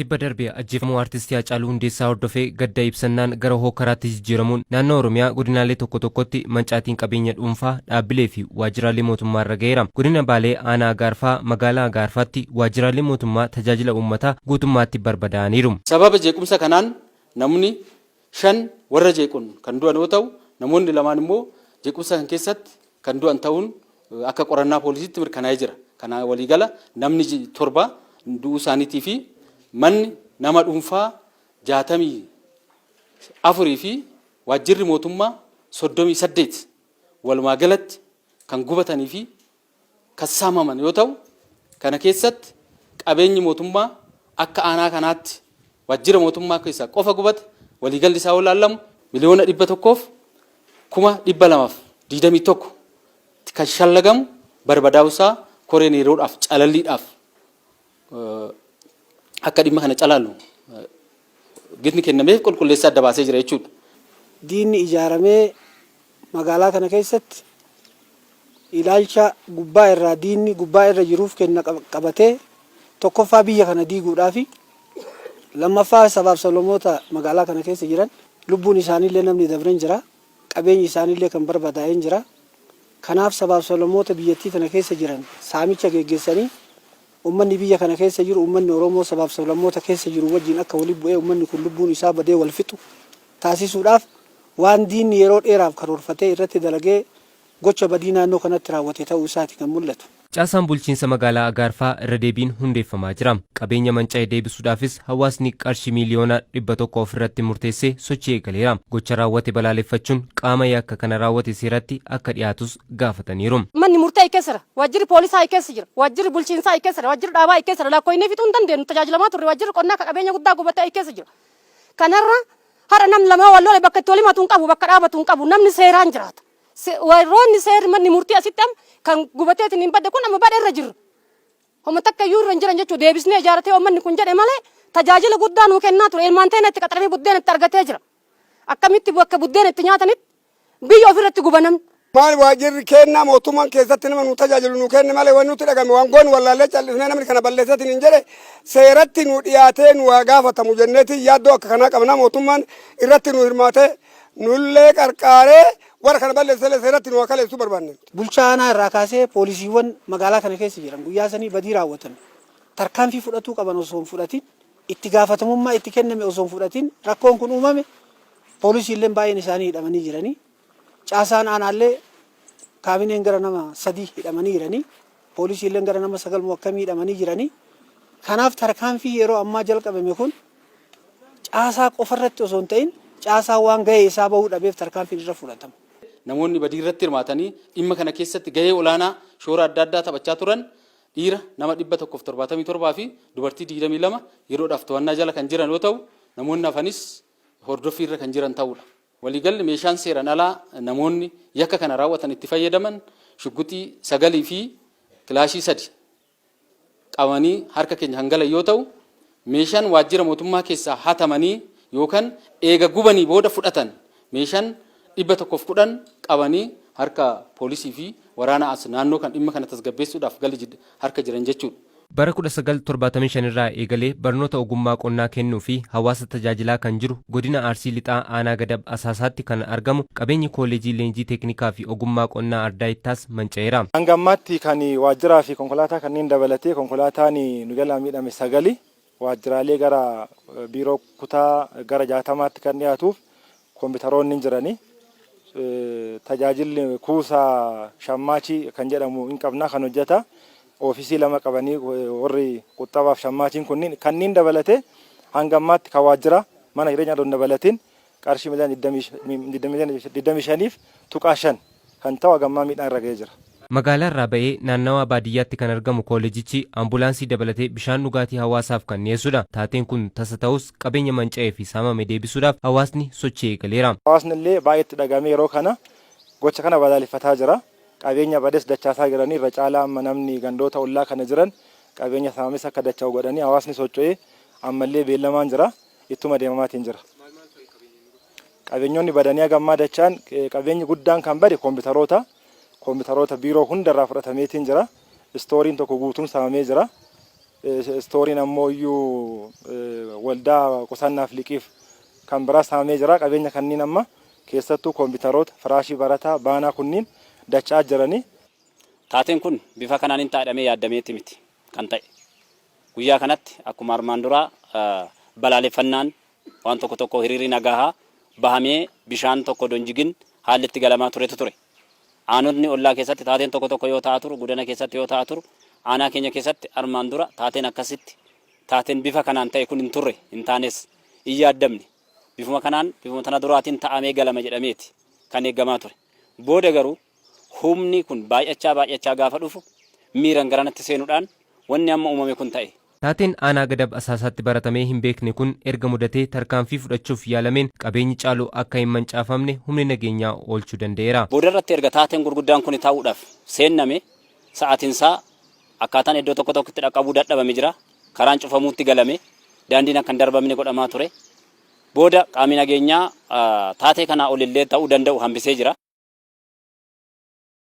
Tibba darbe ajjeefamuu Artisti Haacaaluu Hundeessaa hordofee gadda ibsannaan gara hookkaraatti jijjiiramuun naannoo Oromiyaa godinaalee tokko tokkotti mancaatiin qabeenya dhuunfaa, dhaabbilee fi waajjiraalee mootummaa irra gaheera. Godina Baalee aanaa Agaarfaa magaalaa Agaarfaatti waajjiraaleen mootummaa tajaajila uummataa guutummaatti barbadaa'aniiru. Sababa jeequmsa kanaan namni shan warra jeequn kan du'an yoo ta'u, namoonni lamaan immoo jeequmsa kan keessatti kan du'an ta'uun akka qorannaa poolisiitti mirkanaa'ee jira. Kanaan waliigala namni torba du'uu isaaniitii fi manni nama dhuunfaa 64 fi waajjirri mootummaa 38 walumaagalatti kan gubatanii fi kan saamaman yoo ta'u, kana keessatti qabeenyi mootummaa akka aanaa kanaatti waajjira mootummaa keessaa qofa gubate waliigalli isaa yoo ilaalamu miliyoona 100 fi kuma 221 tti kan shallagamu barbadaa'uu isaa koreen yeroodhaaf calalliidhaaf akka dhimma kana calaalu gitni kennameef qulqulleessee adda baasee jira jechuudha. Diinni ijaaramee magaalaa kana keessatti ilaalcha gubbaa irraa diinni gubbaa irra jiruuf kenna qabatee tokkoffaa biyya kana diiguudhaafi lammaffaa sabaaf sablamoota magaalaa kana keessa jiran lubbuun isaaniillee namni dabren jira qabeenyi isaaniillee kan barbadaa'een jira kanaaf sabaaf sablamoota biyyattii tana keessa jiran saamicha geggeessanii Ummanni biyya kana keessa jiru ummanni Oromoo sabaaf sablammoota keessa jiru wajjin akka walitti bu'ee ummanni kun lubbuun isaa badee wal fixu taasisuudhaaf waan diinni yeroo dheeraaf karoorfatee irratti dalagee gocha badii naannoo kanatti raawwate ta'uu isaati kan mul'atu. Caasaan bulchiinsa magaalaa Agaarfaa irra deebiin hundeeffamaa jira. Qabeenya manca'e deebisuudhaafis hawaasni qarshii miiliyoona 100 of irratti murteessee sochii eegaleera. Gocha raawwate balaaleffachuun qaama yakka kana raawwate seeratti akka dhiyaatus gaafataniiru. Manni murtii keessara Waajjirri Poolisaa I keessa jira. Waajjirri Bulchiinsaa I keessa jira. Waajjirri Dhaabaa I keessa jira. Lakkooynee fixuu hin dandeennu. Tajaajilamaa turre. Waajjirri Qonnaa ka qabeenya guddaa gubate I keessa jira. Kanarra har'a namni lama yoo wal lole bakka itti wal himatu hin qabu, bakka dhaabatu hin qabu. Namni seeraan jiraata. Se, warroonni seerri manni murtii asitti amma kan gubateetiniin badde kun amma badherra jirra. Homa takka iyyuu irra hin jiran jechuudha. Deebisnee ijaaratee uummanni kun jedhe malee tajaajila guddaa nuu kennaa ture. Ilmaan teena itti qaxaranii buddeena itti argatee jira. Akkamitti bakka buddeena itti nyaatanitti Biyya ofi irratti guba namni. Maal waajjirri keennaa mootummaan keessatti nama nuu tajaajilu nuu keenne malee wanni nutti dhagahame waan goonu wallaallee cal'ifnee namni kana balleessee siniin jedhe seeratti nuu dhiyaatee nuu haa gaafatamu jenneeti yaaddoo akka kanaa qabna mootummaan irratti nuu hirmaatee nullee qarqaaree warra kana balleessellee seeratti nuu haa kaleessuu barbaanne nuti. Bulchaa aanaa irraa kaasee poolisiiwwan magaalaa kana keessa jiran guyyaa sanii badii raawwatan tarkaanfii fudhatuu qaban osoo hin fudhatin itti gaafatamummaa itti kenname osoo hin fudhatin rakkoon kun uumame Poolisiilleen baay'een isaanii hidhamanii jiranii. Caasaan aanaallee kaabineen gara nama sadii hidhamanii jiranii. Poolisiilleen gara nama sagal moo akkamii hidhamanii jiranii. Kanaaf tarkaanfii yeroo ammaa jalqabame kun caasaa qofarratti osoo hin ta'in caasaa waan gahee isaa bahuu dhabeef tarkaanfiin irra fudhatama. Namoonni badii irratti hirmaatanii dhimma kana keessatti gahee olaanaa shoora adda addaa taphachaa turan dhiira nama 177 fi dubartii 22 yeroodhaaf to'annaa jala kan jiran yoo ta'u, namoonni hafanis hordoffiirra kan jiran ta'uudha. Waliigalli meeshaan seeran alaa namoonni yakka kana raawwatan itti fayyadaman shugguxii 9 fi kilaashii 3 qabanii harka keenya kan galan yoo ta'u, meeshaan waajjira mootummaa keessaa hatamanii yookan eega gubanii booda fudhatan meeshaan 110 qabanii harka poolisii fi waraana as naannoo kan dhimma kana tasgabbeessuudhaaf gali jid harka jiran jechuudha. Bara 1975 irraa eegalee barnoota ogummaa qonnaa kennuu fi hawaasa tajaajilaa kan jiru Godina Arsii Lixaa Aanaa Gadab Asaasaatti kan argamu qabeenyi Kooleejii Leenjii Teeknikaa fi Ogummaa Qonnaa Ardaa Ittaas manca'eera. Hanga ammaatti kan waajjiraa fi konkolaataa kanneen dabalatee konkolaataan nu jalaa miidhame sagali. Waajjiraalee gara biiroo kutaa gara 60tti kan dhiyaatuuf kompiitaroonni hin jirani. Tajaajilli kuusa shammaachi kan jedhamu hin qabna kan hojjata oofisii lama qabanii warri quxxabaaf shammaachiin kunniin kanniin dabalatee hanga ammaatti kan waajjira mana jireenyaa osoo hin dabalatiin qarshii miliyoona 25.5 kan ta'u haga ammaa miidhaan irra ga'ee jira. Magaalaa irraa ba'ee naannawaa baadiyyaatti kan argamu kooleejichi ambulaansii dabalatee bishaan dhugaatii hawaasaaf kan dhiyeessudha. Taateen kun tasa ta'us qabeenya manca'ee fi saamame deebisuudhaaf hawaasni sochii eegaleera. Hawaasni illee baay'ee itti dhaga'amee yeroo kana gocha kana balaaleffataa jira. Qabeenya bades dachaasaa jiranii irra caalaa amma namni gandoota ollaa kana jiran qabeenya saamames akka dacha'u godhanii hawaasni socho'ee ammallee beellamaan jira. ittuma deemamaatiin jira. Qabeenyonni badanii haga ammaa dachaan qabeenyi guddaan kan bade koompitaroota koompitaroota biiroo hundarraa fudhatameetiin jira. Istooriin tokko guutuun saamamee jira. Istooriin ammoo iyyuu waldaa qusannaaf liqiif kan biraa saamamee jira. Qabeenya kanniin amma keessattuu koompitaroota firaashii barataa baanaa kunniin dachaa jiranii. Taateen kun bifa kanaan hin ta'a jedhamee yaaddameeti miti kan ta'e. Guyyaa kanatti akkuma armaan duraa balaaleffannaan waan tokko tokkoo hiriirri nagaahaa bahamee bishaan tokko odoo hin jigin haalli itti galamaa turetu ture. Aanotni ollaa keessatti taateen tokko tokko yoo ta'a turu, Gudana keessatti yoo ta'a turu, aanaa keenya keessatti armaan dura taateen akkasitti taateen bifa kanaan ta'e kun hin turre, hin taanes. Hin yaaddamne. Bifuma kanaan, bifuma tana duraatiin ta'amee galama jedhameeti kan eegamaa ture. Booda garuu Humni kun baay'achaa baay'achaa gaafa dhufu miiran gara natti seenudhaan wanni amma uumame kun ta'e. Taateen Aanaa Gadab Asaasaatti baratamee hin beekne kun erga mudatee tarkaanfii fudhachuuf yaalameen qabeenyi caalu akka hin mancaafamne humni nageenyaa oolchuu danda'eera. Boodarratti erga taateen gurguddaan kuni ta'uudhaaf seenname sa'aatinsaa akkaataan eddoo tokko tokko itti dhaqqabuu dadhabame jira. Karaan cufamuutti galame. Daandiin akka hin darbamne godhamaa ture. booda qaamni nageenyaa taatee kanaa olillee ta'uu danda'u hambisee jira.